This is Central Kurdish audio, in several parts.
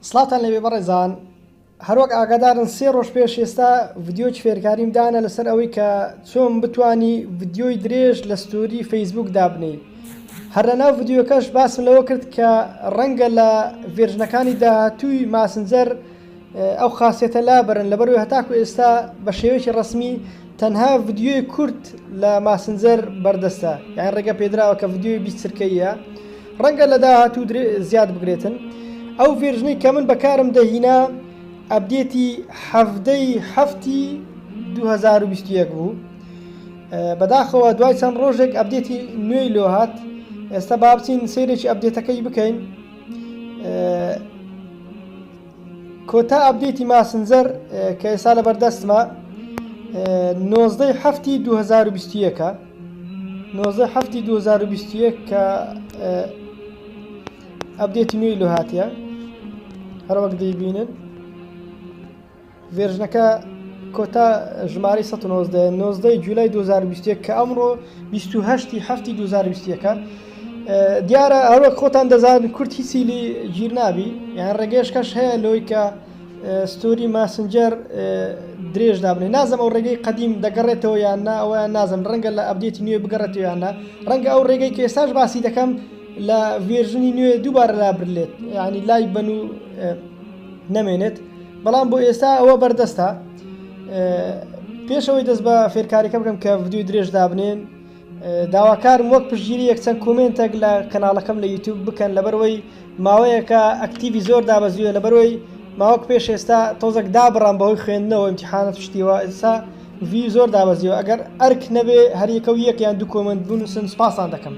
سڵاوتان لەبێ بەڕێزان هەروەک ئاگادارن سێ ڕۆژ پێش ئێستا ڤیددیۆی فێرکاریم دانە لەسەر ئەوەی کە چۆن بتانی ڤیددیۆی درێژ لە ستۆری فەیسبوک دابنی هەر لە ناو ڤیددیوەکەش باسم لەوە کرد کە ڕەنگە لە ڤێرژنەکانی داهاتووی ماسنجەر ئەو خاسیەتە لابەرن لەبەروی هەتاکو ئێستا بە شێوەیەکی ڕسمی تەنها ڤیددیوی کورت لە ماسنجەر بەردەستە یان ڕێگە پێدراوە کە ڤیددیوی بیست چرکەیە ڕەنگە لە داهاتوو زیاد بگرێتن ئەو ڤێرژنەی کە من بەکارم دەهینا ئەبدێتی حەفتەی هەفتی 2021 بوو بەداخەوە دوای چەند ڕۆژێک ئەبدێتی نوێی لۆ هات ئێستا بابچین سێرێکی ئەبدێتەکەی بکەین کۆتا ئەپدەیتی ماسنجەر کە ئێستا لەبەر دەستمە نۆزدەی هەفتی 2021ە نۆزدە هەفتی 2021 کە ئەپدەیتی نوێی لۆ هاتیە هەروەک دەیبینن ڤێرژنەکە کۆتا ژمارەی سەد و نۆزدە یە، نۆزدە ی جولای دوو هەزار و بیست و یەک، کە ئەمڕۆ بیست و هەشت ی هەفتی دوو هەزار و بیست و یەک ە. دیارە هەروەک خۆتان دەزانن کورد هیچی لی گیر نابی، یان ڕێگەیەشکەش هەیە لۆی کە ستۆری ماسنجەر درێژ دابنێ، نازم ئەو ڕێگەی قەدیم دەگەڕێتەوە یان نا ئەوەیان نازم ڕەنگە لە ئەبدێتی نوێ بگەڕێتەوە یان نا، ڕەنگە ئەو ڕێگەی کە ئێستاش باسی دەکەم لە ڤێرژنی نوێ دووبارە لابرلێت یانی لای بەن و نەمێنێت. بەڵام بۆ ئێستا ئەوە بەردەستە پێشەوەی دەست بە فێرکاریەکە بکەم کە ڤدیو درێژ دابنێن داواکارم وەک پشگیری یەکچەند کۆمنتێک لە کەناڵەکەم لە یوتوب بکەن لەبەرەوەی ماوەیەکە ئەکتیوی زۆر دابەزیوە لەبەرەوەی ماوەک پێش ئێستا تۆزەک دابڕام بەهۆی خوێندنەوە امتحانە پشتیوە ئسا وی زۆر دابەزیەوە ئەگەر ئەرک نەبێ هەریەکە و یەکیان دوو کۆمنت بنووسن سپاسان دەکەم.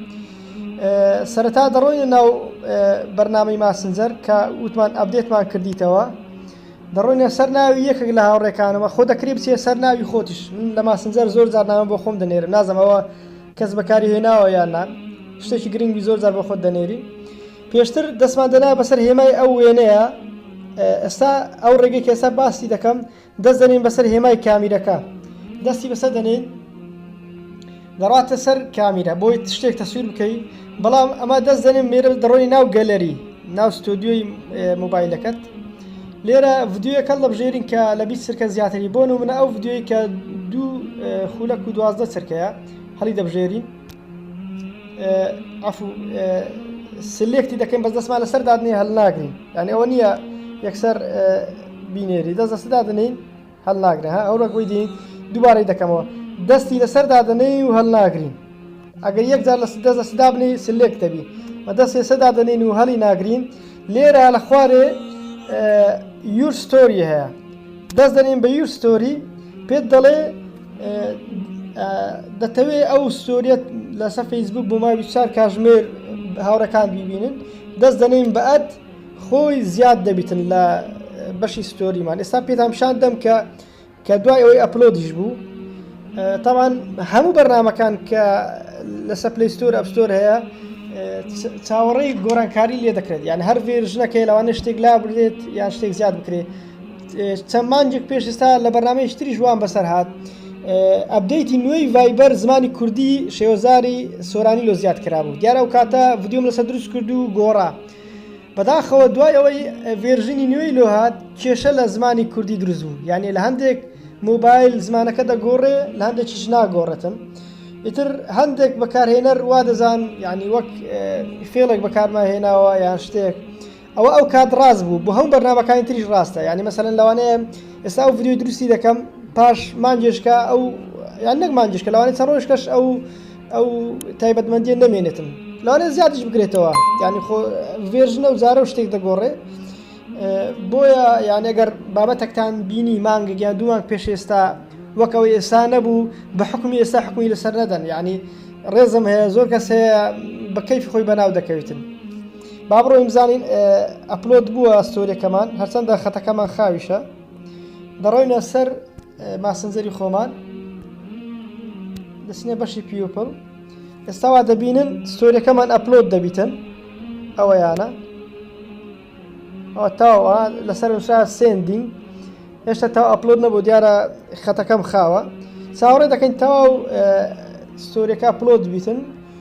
سەرەتا دەڕۆینە ناو بەرنامەی ماسنجەر کە وتمان ئەبدێتمان کردیتەوە دەڕۆینە سەر ناوی یەکێک لە هاوڕێکانەوە خۆ دەکری بچێ سەر ناوی خۆتیش لە ماسنجەر زۆر جارنامە بۆ خۆم دەنێرم نازەمەوە کەس بەکاری هێناوە یاننا شتێکی گرنگی زۆر جار بۆ خۆت دەنێری پێشتر دەستمان دەنا بەسەر هێمای ئەو وێنەیە ئێستا ئەو ڕێگەی کێسا باسی دەکەم دەست دەنێین بەسەر هێمای کامیرەکە دەستی بەسەر دەنێین دەڕاتە سەر کامیرە بۆی شتێک تەسویر بکەی بەڵام ئەمە دەست دەنێن مێرە دەڕۆی ناو گەلەری ناو ستۆدیۆی موبایلەکەت لێرە ڤدیوەکە دەبژێرین کە لە بیست سرکە زیاتری بۆن و منە ئەو ڤدیوی کە دوو خولەک و دوازدە سرکەیە هەڵی دەبژێرین عفو سلێکتی دەکەین بەس دەستمان لەسەر دادنێ هەل ناگرین یعنی ئەوە نییە یەکسەر بینێری دەست دەست دادنین هەل ناگرێ ها ئەو ڕەگوی دین دووبارەی دەکەمەوە دەستی لەسەر دادنەی و هەل ناگرین ئەگەر یەکجار لە دەست دەست دابنی سلێک دەبی بە دەست ێسە دادنین و هەلی ناگرین لێرە لە خوارێ یور ستۆری هەیە دەست دەنین بە یور ستۆری پێت دەڵێ دەتەوێ ئەو ستۆریت لەسە فەیسبوک بۆ ماوی چار کاژمێر هاوڕەکان بیبینن دەست دەنین بەعات خۆی زیاد دەبیتن لە بەشی ستۆریمان ئێستا پێتان پیشان دەم کە کە دوای ئەوەی ئەپلۆدیش بوو تاوان هەموو بەرنمەکان کە لەسە پلیستۆر ئەپستۆر هەیە چاوەڕێی گۆرانکاری لێ دەکرێت یان هەر ڤێرژنەکەی لەوانە شتێک لا بێت یان شتێک زیاد بکرێت چەند مانگێک پێش ئێستا لە بەرنامەیەکی تریش وام بەسەر هات ئەبدەیتی نوێی ڤایبەر زمانی کوردی شێوەزاری سۆرانی لۆ زیاد کرابوو دیارە و کاتە ڤیددیوم لەسەر دروست کرد و گۆڕا بەداخەوە دوای ئەوەی ڤێرژنی نوێی لۆ هاات کێشە لە زمانی کوردی دروست بوو یعنی لە هەندێک موبایل زمانەکە دەگۆڕێ لە هەندێکیش ناگۆڕێتم ئیتر هەندێک بەکارهێنەر وا دەزان یعنی وەک فێڵێک بەکارمە هێناوە یان شتێک ئەوە ئەو کات ڕاست بوو بۆ هەموو بەرنامەکانی تریش ڕاستە یانی مەسەلەن لەوانەیە ئێستا ئەو ڤیدیۆی دروستی دەکەم پاش مانگێشکە ئەو یان نەک مانگێشکە لەوانەیە چەند ڕۆژکەش ئەو ئەو تایبەتمەندیە نەمێنێتم لەوانەیە زیادیش بکرێتەوە یانی خۆ ڤێرژنە و جارە و شتێک دەگۆڕێ بۆیە یان ئەگەر بابەتەکتان بینی مانگێک یان دوو مانگ پێش ئێستا وەکەوە ئێستا نەبوو بە حکومی ئێستا حکومی لەسەر نەدەن یعنی ڕێزم هەیە زۆر کەس هەیە بە کەیفی خۆی بەناو دەکەوێتن با بڕۆین بزانین ئەپلۆد بووە ستۆریەکەمان هەرچەندە خەتەکەمان خاویشە دەڕۆینە سەر ماسنجەری خۆمان دەچینە بەشی پیوپل ئێستاوا دەبینن ستۆریەکەمان ئەپلۆد دەبیتن ئەوە یانە تاوە لەسەر وشا سندین هێشتا تا ئەپلۆد نەبوو دیارە خەتەکەم خاوە چاوەڕێ دەکەین تاو ستۆریەکە پلۆد بیتن